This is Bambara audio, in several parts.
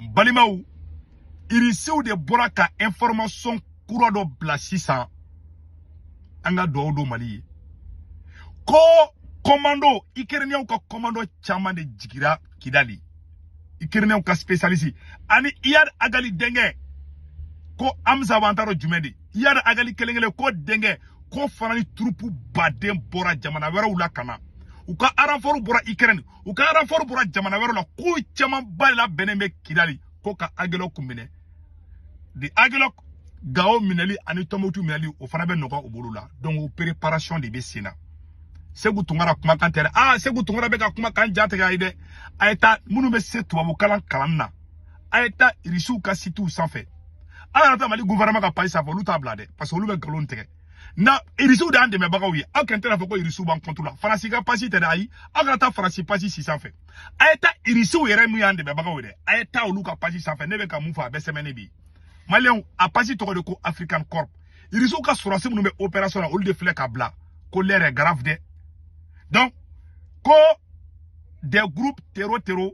balimaw irisiw de bɔra ka information kura dɔ bila sisan an ka dugawu don mali ye ko kɔmando ikɛrɛniyɛnw ka kɔmando caman de jigira kidali ikɛrɛniyɛnw ka spesialisi ani iyad agali denkɛ ko amza wa an t'a dɔn jumɛn de iyad agali kelen kelen ko denkɛ k'o fana ni turupuba de bɔra jamana wɛrɛw la ka na u ka aranfɔriw bɔra ikɛrɛni u ka aranfɔri bɔra jamana wɛrɛ la ko caman ba de labɛnnen bɛ kidali ko ka agɛlɔku minɛ de agɛlɔku gawo minɛli ani tumutu minɛli o fana bɛ nɔgɔ u bolo la donc o préparation de bɛ sen na seku tunkara kumakan tɛ dɛ aa seku tunkara bɛ ka kumakan dantigɛ a ye dɛ a ye taa minnu bɛ se tubabukalan kalan na a ye taa irisiw ka sitiw sanfɛ aw yɛrɛ ta mali gouvernement ka page sanfɛ olu t'a bila dɛ parce que olu bɛ nkalon tigɛ na irisiw de y'an dɛmɛbagaw ye aw kɔni tɛna fɔ ko irisiw b'an contre la faransi ka page tɛ dɛ ayi aw kana taa faransi page si sanfɛ a ye taa irisiw yɛrɛ min y'an dɛmɛbagaw ye dɛ a ye taa olu ka page sanfɛ ne bɛ ka min fɔ a bɛɛ sɛbɛnnen bi maliyɛnw a page tɔgɔ de ko african corp irisiw ka sɔrɔsi minnu bɛ opération na olu de filɛ k'a bila ko l'heure est grave dɛ donc ko des groupes tero tero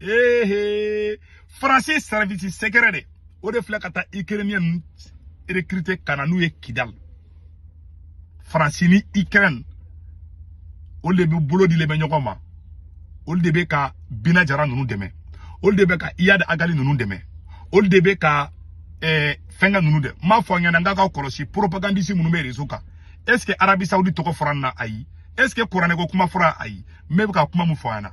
ehe faransi service secret de o de filɛ ka taa ikɛrɛniyɛn ninnu rekirite ka na n'u ye kidali faransi ni ikɛrɛni olu de bɛ bolo dilen bɛ ɲɔgɔn ma olu de bɛ ka bina jara ninnu dɛmɛ olu de bɛ ka iyad agali ninnu dɛmɛ olu de bɛ ka eh, fɛnkɛ ninnu dɛ n b'a fɔ ɲɛna n ka ka kɔlɔsi propagandisi minnu bɛ rezo kan est ce que arabi saudi tɔgɔ fɔra n na ayi est ce que kuranɛko kuma fɔra ayi n bɛ ka kuma min fɔ an na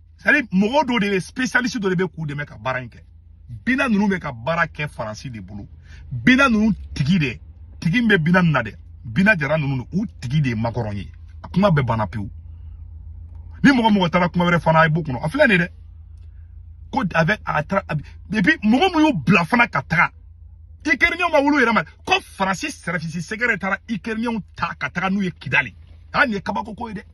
c'est-à-dire mɔgɔ dɔ de bɛ spécialiste dɔ de bɛ k'u dɛmɛ ka baara in kɛ bina ninnu bɛ ka baara kɛ faransi de bolo bina ninnu tigi de tigi min bɛ bina ninnu na dɛ bina jara ninnu u tigi de ye makɔrɔn ye a kuma bɛɛ banna pewu ni mɔgɔ mɔgɔ taara kuma wɛrɛ fana a ye bɔ o kɔnɔ a filɛ nin ye dɛ ko avec a taara et puis mɔgɔ min y'u bila fana ka taga ikɛrɛniyɛnw ma olu yɛrɛ ma ko faransi service secret taara ikɛrɛniyɛnw ta ka taga n'u ye kidali hali nin ye kabako ko ye dɛ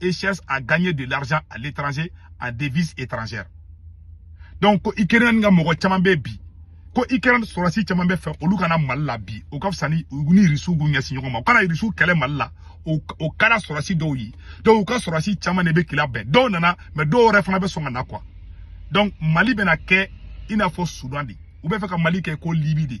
et cherchent à gagner de l'argent à l'étranger en devise étrangère donc ko Ukrainiens ka mɔgɔ caman bɛ bi ko Ukraine sɔrɔsi caman b'a fɛ olu ka na Mali la bi o ka fisa ni ni Irisiw k'u ɲɛsin ɲɔgɔn ma u ka na Irisiw kɛlɛ Mali la o o kɛra sɔrɔsi dɔw ye donc u ka sɔrɔsi caman de bɛ k'i labɛn dɔw nana mais dɔ wɛrɛ fana bɛ sɔn ka na quoi donc Mali bɛna kɛ i n'a fɔ Soudan de u b'a fɛ ka Mali kɛ ko Libye de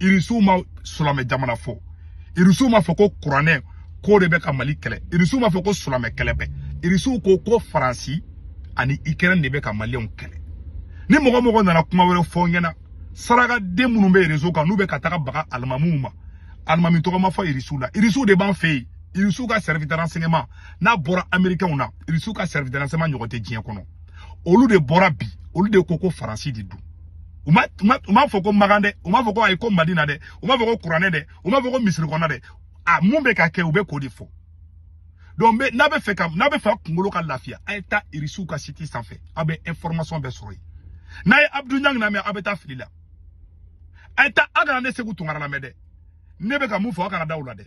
irisiw ma silamɛ jamana fɔ irisiw ma fɔ ko kuranɛ ko de bɛ ka mali kɛlɛ irisiw ma fɔ ko silamɛ kɛlɛ bɛ irisiw ko ko faransi ani ikɛrɛn de bɛ ka maliyɛnw kɛlɛ ni mɔgɔ o mɔgɔ nana kuma wɛrɛ fɔ n ɲɛna sarakaden minnu bɛ rezo kan n'u bɛ ka taga baga alimamiw ma alimami tɔgɔ ma fɔ irisiw la irisiw de b'an fɛ yen irisiw ka service de renseignement n'a bɔra amerikɛnw na irisiw ka service de renseignement ɲɔgɔn tɛ diɲɛ kɔnɔ olu de bɔra bi olu de ko ko faransi de don u ma u ma u ma fɔ ko makan dɛ u ma fɔ ko ayi ko madina dɛ u ma fɔ ko kuranɛ dɛ u ma fɔ ko misiri kɔnɔ dɛ a mun bɛ ka kɛ u bɛ k'o de fɔ donc bɛ n'a bɛ fɛ ka n'a bɛ fɛ a kunkolo ka lafiya a ye taa irisiw ka site sanfɛ aw bɛ information bɛɛ sɔrɔ yen n'a ye abdu ɲang lamɛn aw bɛ taa fili la a ye taa aw kana ne seku tunkara lamɛn dɛ ne bɛ ka mun fɔ aw kana da u la dɛ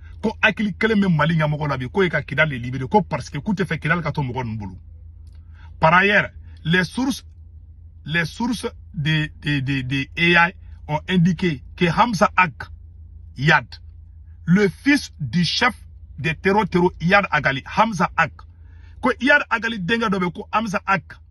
ko hakili kelen bɛ mali ɲɛmɔgɔ la bi k'o ye ka kidal de libere ko parce que k'u tɛ fɛ kidal ka to mɔgɔ ninnu bolo par ailleurs les sources les sources de de de de AI ont indiqué que Hamza Ag Iyad le fils du chef des tero tero Iyad Ag Ghali Hamza Ag ko Iyad Ag Ghali denkɛ dɔ bɛ ko Hamza Ag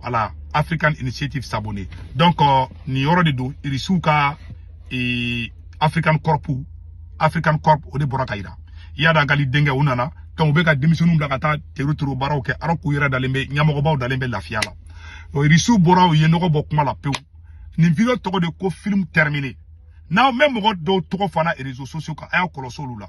voilà African Initiative s'abonner donc euh, nin yɔrɔ de don irisiw ka ee, African Corps African Corps o de bɔra k'a yira Iyad Ag Ghali denkɛ u nana donc u bɛ ka denmisɛnninw bila ka taa tero tero baaraw kɛ alors k'u yɛrɛ dalen bɛ ɲɛmɔgɔbaw dalen bɛ lafiya la o irisiw bɔra u ye nɔgɔ bɔ kuma la pewu nin video tɔgɔ de ko film terminé n'aw mɛ mɔgɔ dɔw tɔgɔ fana réseaux sociaux kan a y'a kɔlɔsi olu la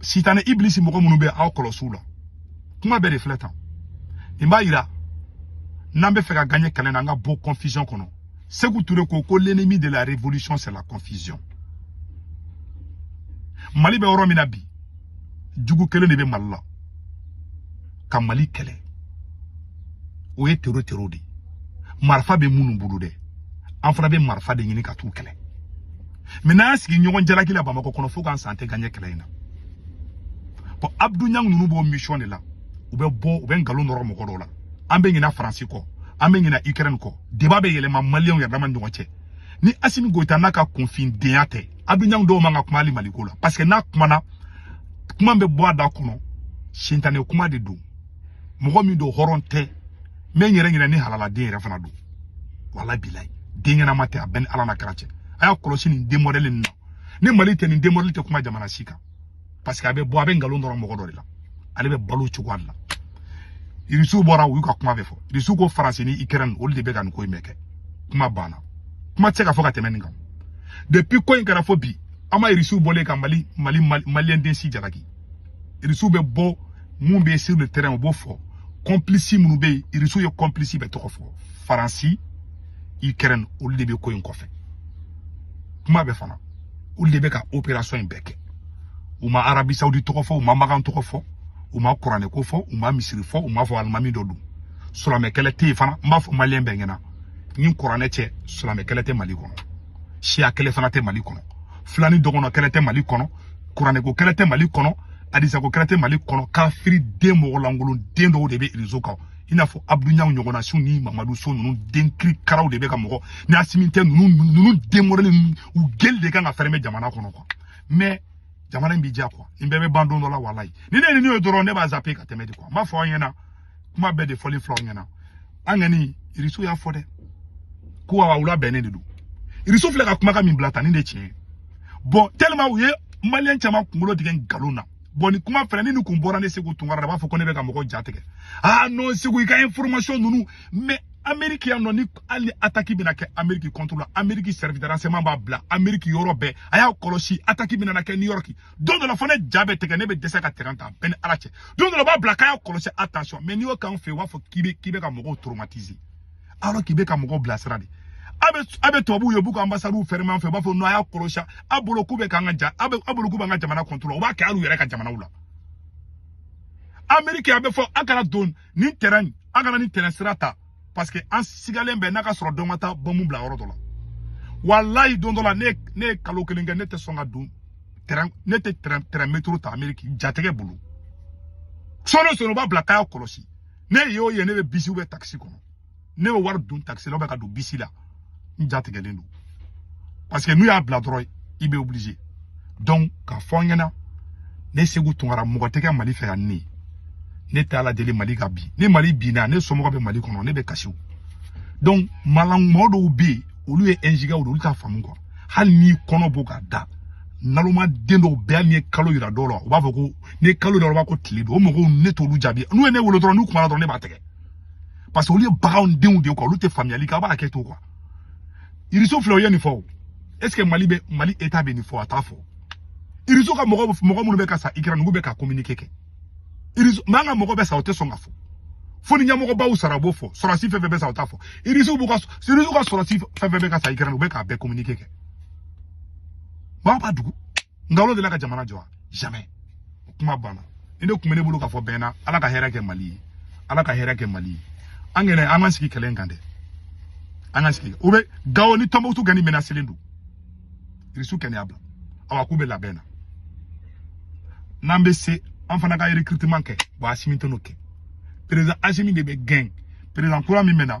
sitanɛ ibilisi mɔgɔ minnu bɛ aw kɔlɔsi u la kuma bɛɛ de filɛ tan nin b'a yira n'an bɛ fɛ ka gaɲɛ kɛlɛ na an ka bɔ confusion kɔnɔ seku ture ko ko l'ennemi de la révolution c'est la confusion mali bɛ yɔrɔ min na bi jugu kelen de bɛ mali la ka mali kɛlɛ o ye tero tero de ye marifa bɛ minnu bolo dɛ an fana bɛ marifa de ɲini ka t'u kɛlɛ mɛ n'an y'an sigi ɲɔgɔn jalaki la bamakɔ kɔnɔ fo k'an sa an tɛ gaɲɛ kɛlɛ in na bɔn abdu ɲang ninnu b'o misiyɔn de la u bɛ bɔ u bɛ nkalon nɔrɔ mɔgɔ dɔw la an bɛ ɲina faransi kɔ an bɛ ɲina ukraine kɔ débat bɛ yɛlɛma maliyɛnw yɛrɛ dama ɲɔgɔn cɛ ni asimi goyita n'a ka kunfindenya tɛ abdu ɲang dun man ka kuma hali maliko la parce que n'a kumana kuma bɛ bɔ a da kɔnɔ sitanɛ kuma de don mɔgɔ min don hɔrɔn tɛ n bɛ n yɛrɛ ɲini ni halaladen yɛrɛ fana don wala bilayi den ɲɛnama tɛ a bɛ n ni ala n'a kira cɛ a y'a kɔlɔsi nin den mɔdɛli ninnu ni mali tɛ nin den mɔdɛli tɛ kuma jamana si kan parce que a bɛ bɔ a bɛ nkalon nɔrɔ mɔgɔ dɔ de la ale bɛ balo juguya de la irisiw bɔra u y'u ka kuma bɛɛ fɔ irisiw ko faransi ni ikɛrɛni olu de bɛ ka nin ko in bɛɛ kɛ kuma banna kuma tɛ se ka fɔ ka tɛmɛ nin kan depuis ko in kɛra fo bi an ma irisiw bɔlen ka mali mali maliyɛn den si jalaki irisiw bɛ bɔ min bɛ sur le terrain o b'o fɔ kɔnplisi minnu bɛ yen irisiw ye kɔnplisi bɛɛ tɔgɔ fɔ faransi ukraine olu de bɛ ko in kɔfɛ kuma bɛ fana olu de bɛ ka operation in bɛɛ kɛ u ma arabi saudi tɔgɔ fɔ u ma makan tɔgɔ fɔ u ma kuranɛ ko fɔ u ma misiri fɔ u ma fɔ alimami dɔ don silamɛkɛlɛ tɛ yen fana n b'a fɔ maliyɛn bɛɛ ɲɛna ni kuranɛ cɛ silamɛkɛlɛ tɛ mali kɔnɔ siya kɛlɛ fana tɛ mali kɔnɔ filani dɔgɔnɔ kɛlɛ tɛ mali kɔnɔ kuranɛ ko kɛlɛ tɛ mali kɔnɔ adisa ko kɛlɛ tɛ mali kɔnɔ kafiri den mɔgɔlankolon den dɔw de bɛ rezo kan i n'a fɔ abudu niang ɲɔgɔnnasiw ni mamadu so ninnu den kirikaraw de bɛ ka mɔgɔ ni asimi tɛ ninnu ninnu den mɔdɛli u gueule de kan ka fɛrɛmɛ jamana kɔnɔ kuwa mais jamana in bɛ diya kuwa nin bɛɛ bɛ ban don dɔ la walayi ni ne ye nin ye dɔrɔn ne b'a zape ka tɛmɛ de kuwa n b'a fɔ aw ɲɛna kuma bɛɛ de fɔli fil'aw ɲɛna an kɔni irisiw y'a fɔ dɛ ko awa wula bɛnnen de don irisiw filɛ ka kuma ka min bila tan ni de tiɲɛ ye bon tellement u ye maliyɛn caman kunkolo tigɛ nkalon na bon ni kuma fɛnɛ ni nin kun bɔra ne segu tunkara la b'a fɔ ko ne bɛ ka mɔgɔ ja tigɛ aa ah, non segu i ka information ninnu mais ameriki yan nɔ ni hali ni ataki bɛna kɛ ameriki contre la ameriki service de renseignement b'a bila ameriki yɔrɔ bɛɛ a y'a kɔlɔsi ataki bɛna na kɛ new york don dɔ la fɔ ne ja bɛ tigɛ ne bɛ dɛsɛ ka tɛrɛn ta bɛɛ ni ala cɛ don dɔ la u b'a bila k'a y'a kɔlɔsi attention mais n'i y'o k'an fɛ yen u b'a fɔ k'i bɛ k'i bɛ ka mɔgɔw traumatiser alors k'i bɛ ka mɔgɔw bilasiran dɛ a bɛ a bɛ tubabuw ye u b'u ka anbasadiw fɛrɛmɛ an fɛ u b'a fɔ non a y'a kɔlɔsi a bolo k'u bɛ k'an ka ja a bɛ a bolo k'u b'an ka jamana contrôler u b'a kɛ hali u yɛrɛ ka jamanaw la ameriki a bɛ fɔ a kana don nin tɛrɛn a kana nin tɛrɛn sira ta parce que an sigalen bɛ n'a k'a sɔrɔ dɔ ma taa bɔnmu bila yɔrɔ dɔ la walayi don dɔ la ne ne ye kalo kelen kɛ ne tɛ sɔn ka don tɛrɛn ne tɛ tɛrɛn tɛrɛn metro ta ameriki jatigɛ bolo sɔɔni sɔɔni u b'a bila k'a y'a kɔlɔsi ne y'o ye ne bɛ bisi bɛ takisi kɔnɔ ne bɛ wari dun takisi la o bɛ ka don bisi la n jatigɛlen don parce que n'u y'a bila dɔrɔn i bɛ obligé donc k'a fɔ an ɲɛna ne segu tunkara mɔgɔ tɛ kɛ mali fɛ yan ne ne tɛ ala deli mali ka bin ni mali binna ne somɔgɔ bɛ mali kɔnɔ ne bɛ kasi donc malanmɔgɔ dɔw bɛ yen olu ye ɛnzigɛw de olu t'a faamu kuwa hali n'i kɔnɔ bɔ k'a da naloma den dɔw bɛ hali n'i ye kalo yira dɔw la u b'a fɔ ko n'i ye kalo yira u b'a ko tile don o mɔgɔw ne t'olu jaabi n'u ye ne wele dɔrɔn n'u kumana dɔrɔn ne b'a tigɛ parce que olu ye bagan denw de ye kuwa olu tɛ faamuyali kɛ a b'a kɛ to kuwa irisiw filɛ o ye nin fɔ o est ce que mali bɛ mali eta bɛ nin fɔ a t'a fɔ irisiw ka mɔgɔ mɔgɔ minnu bɛ ka sa ukraine u bɛ k'a communiquer kɛ irisiw mais an ka mɔgɔ bɛ sa u tɛ sɔn k'a fɔ fo ni ɲɛmɔgɔbaw sara u b'o fɔ sɔrɔdasi fɛn fɛn bɛ sa o t'a fɔ irisiw b'u ka irisiw ka sɔrɔdasi fɛn fɛn bɛ ka sa ukraine u bɛ k'a bɛɛ communiquer kɛ mali b'a dogo ngalo de la ka jamana jɔ jamais o kuma banna nin de kun bɛ ne bolo k'a fɔ bɛɛ na ala ka hɛrɛ kɛ mali ye ala ka hɛrɛ kɛ mali ye an kɛnɛ an ka sigi kɛlɛ in kan dɛ an ka sigi u bɛ gawo ni tɔnbukutu kɛni minɛ a selen don irisiw kɛnɛ y'a bila awa k'u bɛ labɛn na n'an bɛ se an fana ka recrutement kɛ ba asimi tɛn'o kɛ président asimi de bɛ gɛn président kura min bɛ na